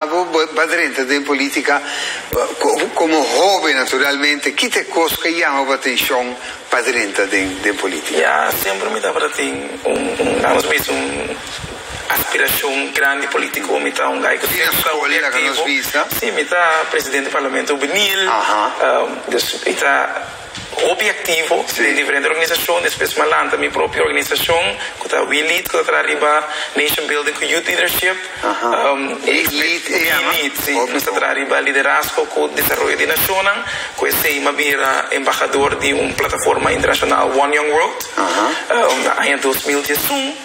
Abo ba drenta den politica como hoben naturalmente ki ta e cos cu a jama bo atencion pa drenta den politica? Ya, siempre mi tabata tin un nos misti un aspiracion grandi politico, mi ta un gai cu siempre ta hopi activo, si mi ta presidente di parlamento hubiniel, dus mi ta. Hopi aktivo den diferente organisashon, despues mi a lanta mi propio organisashon ku ta We Lead ku ta traha riba Nation Building ku Youth Leadership, We Lead se llama, si, nos ta traha riba liderazgo ku desaroyo di nashonnan, ku esei mi a bira embahador di un plataforma internashonal One Young World na aña dos mil diesun.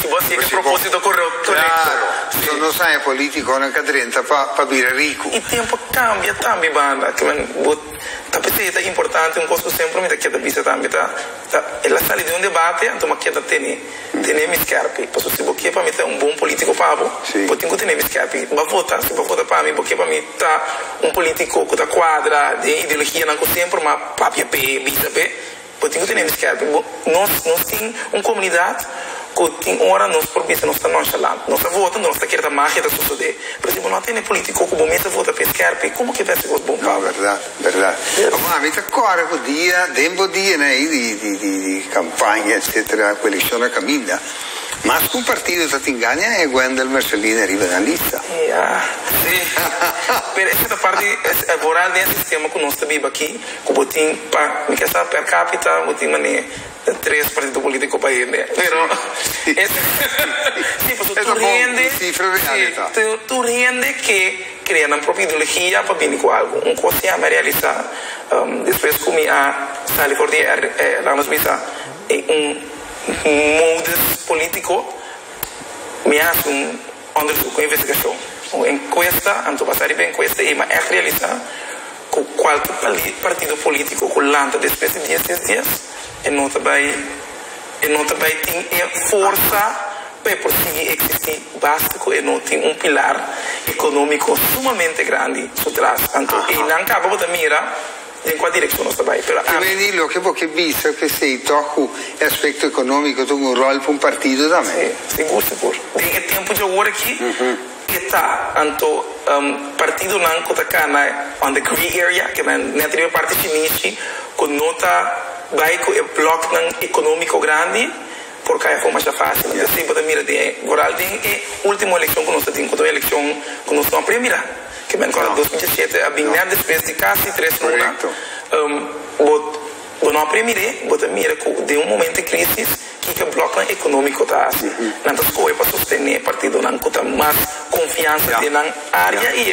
Si bo tika e propósito korekto na Éxodo. Claro. Nos haña polítikonan ka drenta pa bira riku. E tempu kambia tambe banda. Kimen bo ta p'esei ta importante. Un kos ku semper mi ta kier ta bisa tambe ta, el a sali di un debate anto m'a kier ta tene tene mi skèrpi. Paso si bo kier pa mi ta un bon polítiko pa bo, bo tin ku tene mi skèrpi. B'a vota, si b'a vota pa mi, bo kier pa mi ta un polítiko ku ta kuadra den e ideologianan ku semper m'a papia p'e, bisa p'e. Bo tin cu tene miskerte. Bo, nos, nos tin un comunidad cu tin ora nos por bisa nos ta nonchalant. Nos a vota, nos ta kier ta magia ta sucede. Pero si bo no a tene politico cu bo mes a vota pe eskerpe, como ke bes cos bon pa bo? No, verdad, verdad. Amo, ami ta corre cu dia, den bo dianan ahi di, di, di, di campaña, etcetera, cu eleccion na caminda, mas cu un partido ta tin gana e Wendel Mercelina riba den lista. Ya, si. Pero esa ta parte, es, e voral den e sistema cu nos ta biba aki. Ku bo tin pa mi ke sa per capita bo tin mane tres partido politico pa hende pero si paso tur hende si tur hende ke crea nan propio ideologia pa bini ku algo un cos ya mi a realisa despues ku mi a sali for di e lanos bisa e un modus politico mi a hasi un onderzoek un investigacion un encuesta anto basa riba encuesta ey mi a echt realisa. Cu cualki partido politico cu lanta despues di diesies dies, e no ta bay e no ta bay tin e forsa pa e por sigui existi, basta cu e no tin un pilar economico sumamente grandi su tras. Anto eynan caba bo ta mira den cua direccion nos ta bay. Pero Cu ami. meni loke bo ke bisa p'esey toh cu e aspecto economico ta hunga un rol pa un partido tambe? Si, sigur, sigur. Den e tempo djawoor aki. Ke ta anto partidonan ku ta kana on the gray area, ke nan nèt riba e parti shinishi, ku no ta bai ku e blòknan ekonómiko grandi? Por kaya kon masha fásil. I así bo ta mira den e, vooral den e último elekshon ku nos a tin, ku ta un elekshon ku nos no a prea mira, ke mèn kòrda dos mil diesisiete a bin nèt despues di kasi tres luna, bo no a prea mir'é, bo ta mira ku den un momento di krísis, Kiko e blòknan ekonómiko ta hasi? Nan ta skohe pa sostené partidonan ku ta mas konfiansa den nan área i.